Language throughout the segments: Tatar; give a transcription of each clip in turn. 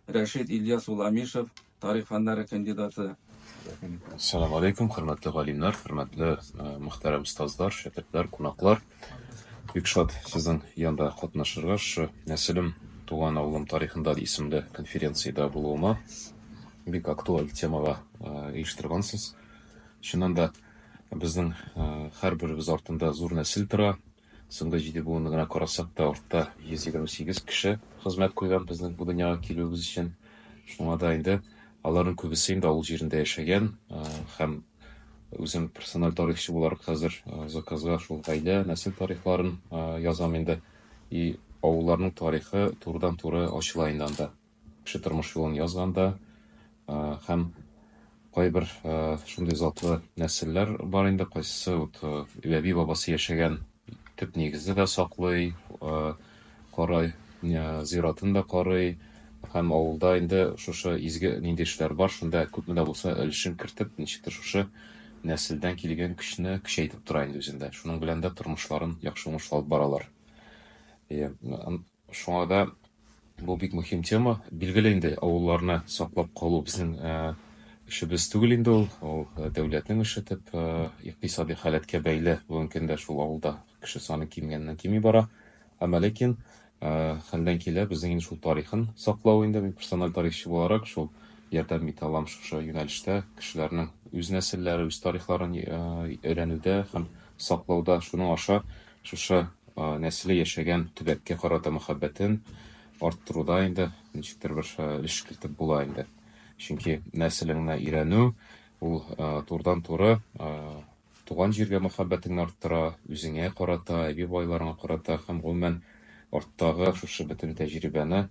Рәшит Ильяс ул Амишев, тарих фәннәре кандидаты. Салам алейкум, хөрмәтле галимнар, хөрмәтле э, мөхтәрәм остазлар, шәкертләр, кунаклар. Бик шат сезнең янда катнашырга, шы нәселем, туган авылым тарихында исемле конференциядә булуыма. Бик актуаль темага э, оештыргансыз. Чыннан да безнең э, һәрберебез артында зур нәсел тора, Соңгы җиде буынны гына карасак та, артта 128 кеше хезмәт куйган безнең бу дөньяга килүебез өчен. Шуңа да инде аларның күбесе инде авыл җирендә яшәгән һәм үзем персональ тарихчы буларак хәзер заказга шул гаилә, нәсел тарихларын язам инде. И авылларның тарихы турыдан-туры ачыла инде анда. Кеше тормыш юлын язганда һәм кайбер шундый затлы нәселләр бар инде, кайсысы вот әби бабасы яшәгән төп нигезне дә саклый, карай, зиратын да карый һәм авылда инде шушы изге нинди эшләр бар, шунда күпме дә булса өлешен кертеп, ничектер шушы нәселдән килгән көчне көчәйтеп тора инде үзендә. Шуның белән дә тормышларын яхшы уңышлы алып баралар. Шуңа да бу бик мөһим тема. Билгеле инде, авылларны саклап калу безнең эшебез түгел инде ул. Ул дәүләтнең эше дип, икътисади халәткә бәйле. Бүгенге көндә шул авылда кеше саны кимегәннән-кими бара. Әмма ләкин хәлдән килә безнең инде шул тарихын саклау инде. Мин персональ тарихчы буларак шул ярдәм итә алам шушы юнәлештә. Кешеләрнең үз нәселләре, үз тарихларын өйрәнүдә һәм саклауда. Шуның аша Шушы нәселе яшәгән төбәккә карата мәхәббәтен арттыруда инде ничектер бер өлеш кертеп була инде. Чөнки нәселеңне өйрәнү, ул турыдан-туры туган җиргә мәхәббәтеңне арттыра, үзеңә карата, әби-бабайларыңа карата һәм гомумән арттагы шушы бөтен тәҗрибәне,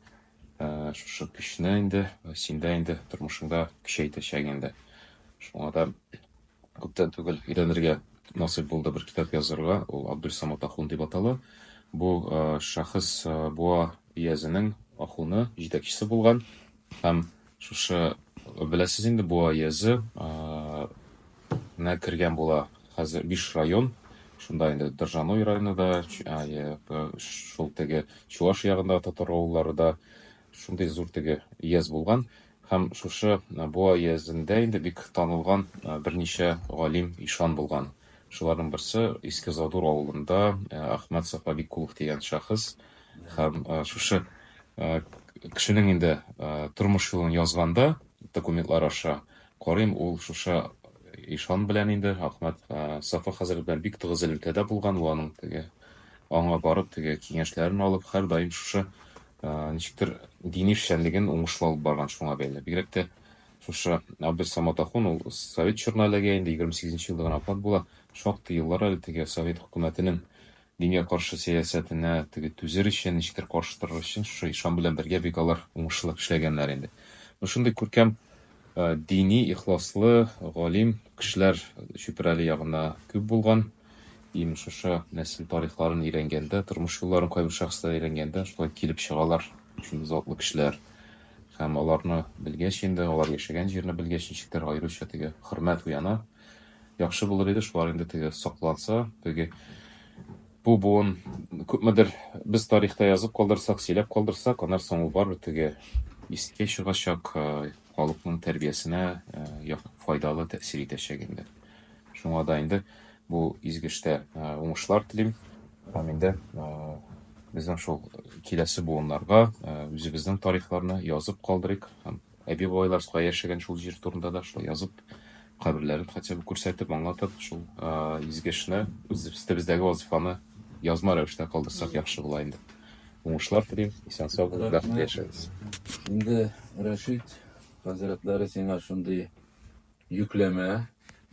шушы көчне инде синдә инде тормышыңда көчәйтәчәк инде. Шуңа да Күптән түгел өйрәнергә насыйп булды бер китап язырга, ул Абдульсамат ахун дип атала. Бу шәхес Буа өязенең ахуны, җитәкчесе булган һәм шушы беләсез инде Буа өязе нә кергән була хәзер биш район, шунда инде Доржаной районы да, шул теге Чуаш ягында татар авыллары да шундый зур теге өяз булган. Һәм шушы Буа өязендә инде бик танылган берничә галим, ишан булган. Шуларның берсе, Иске Задур авылында Әхмәт Сафабикулов дигән шәхес. Һәм шушы кешенең инде тормыш юлын язганда, документлар аша карыйм, ул шушы ишан белән инде, Әхмәт Сафа хәзрәт белән бик тыгыз элемтәдә булган. Ул аның теге, аңа барып, теге киңәшләрен алып, һәрдаим шушы Ничектер дини эшчәнлеген уңышлы алып барган шуңа бәйле. Бигрәк тә шушы Абделсамат ахун, ул совет чорына эләгә инде, егерме сигезенче елда гына вафат була. Шактый еллар әле теге совет хөкүмәтенең дингә каршы сәясәтенә теге түзер өчен, ничектер каршы торыр өчен шушы ишан белән бергә бик алар уңышлы эшләгәннәр инде. Менә шундый күркәм дини, ихласлы, галим кешеләр Чүпрәле ягында күп булган. Имеш, шушы нәсел тарихларын өйрәнгәндә, тормыш юлларын кайбер шәхесләр өйрәнгәндә, шулай килеп чыгалар шундый затлы кешеләр. Һәм аларны белгәч инде, алар яшәгән җирне белгәч, ничектер аеруча теге хөрмәт уяна. Яхшы булыр иде, шулар инде теге сакланса, теге бу буын күпмедер без тарихта язып калдырсак, сөйләп калдырсак, аннан соң ул барыбер теге искә чыгачак, халыкның тәрбиясенә файдалы тәэсир итәчәк инде. Шуңа да инде бу изге эштә уңышлар телим. Һәм инде безнең шул киләсе буыннарга үзебезнең тарихларны язып калдырыйк һәм әби-бабайлар кая яшәгән шул җир турында да шулай язып, каберләрен хотя бы күрсәтеп, аңлатып, шул изге эшне, үз өстебездәге вазифаны язма рәвештә калдырсак яхшы була инде. Уңышлар телим, исән сау булып бәхетле яшәгез. Инде Рәшит хәзрәтләре сиңа шундый йөкләмә,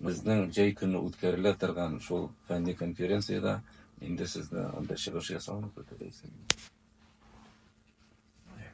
безнең җәй көне үткәрелә торган шул фәнни конференциядә инде сезне анда чыгыш ясауны көтәбез. Yeah.